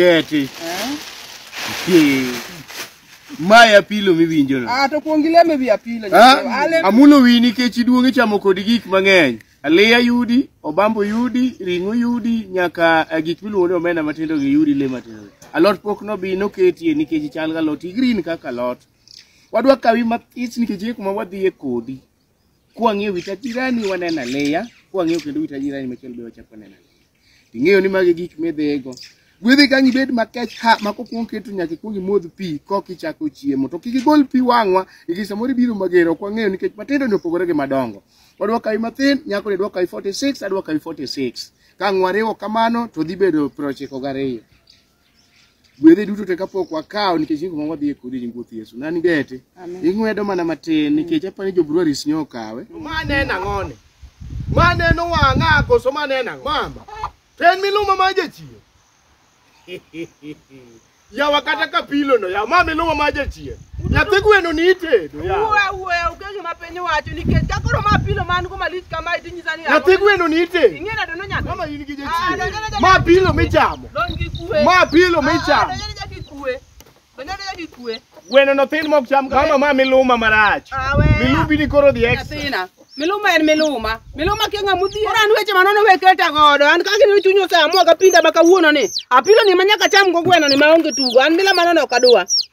Keti. Eh? Ki. Maya pilo miwinjo no. Ah to kuong ileme wi apilo. Ah, Ale amulo wi nikech iduong' ichamo kod gik mang'eny. Aliya yudi, obambo yudi, ring'o yudi, nyaka eh, gik miluongo ni omena matindo gi yudi le matindo. gi. Alot pok nobi noketie nikech chal ga lot, green kaka alot. Wadwa kawi mathis nikech e kuma wadhiye kodi. Kwang'e wi tajirani waneno aliya, kwang'e kendo wi tajirani machielo be wachako waneno aliya. ing'eyo ni magi gik midhigo gwedhi ka ngibed makech ha ma kokwong keto nyaka ikwong imodh pi kok ichako chiemo to kik igol pi wang'wa nikech samoro ibiro mager ok wang'eyo nikech matindo ni opogore gi madongo wadwa kawi mathin nyako ni dwa kawi 46 adwa kawi 46 ka ng'wariwo kamano to dhi bedo prochiko gariyo gwedhe duto te kapok wakawo nikech nyingo mwa wadhi e kodi nying wuoth Yesu nani gete ing'wedo mana matin nikech apani jo breweries nyo okawe mane en ang'one mane en owang'a koso mane en ang'o mama to en miluma ma jachien yawa kata kapilono yawa ma miluma ma jachien Nyathi gweno ni itedo. Uwe uwe uke gima piny wacho nikech ka koro ma pilo man go malich kama idhi nyisa ni Nyathi gweno ni itedo. Ing'e nado no nyathi. Mama in gi Ah, donjo jachien. ne Ma jaki pilo kuwe. michamo. Donj gi kuwe. Ma pilo Ah, michamo. Donjo ne jaki kuwe. Donjo ne jaki kuwe. Gweno no thin mok cham kama ma miluma marach. Ah, weya. Milubi ni koro dhi extra. Nyathina. Miluma en miluma. Miluma kia ng'ama odhier. Ora an weche manono we keta godo. An kaka ne chuny oseamua kapinda ma kawuono ni. Apilo ni manyaka cham go gweno ni maonge tugo. An mila manono ok adwa.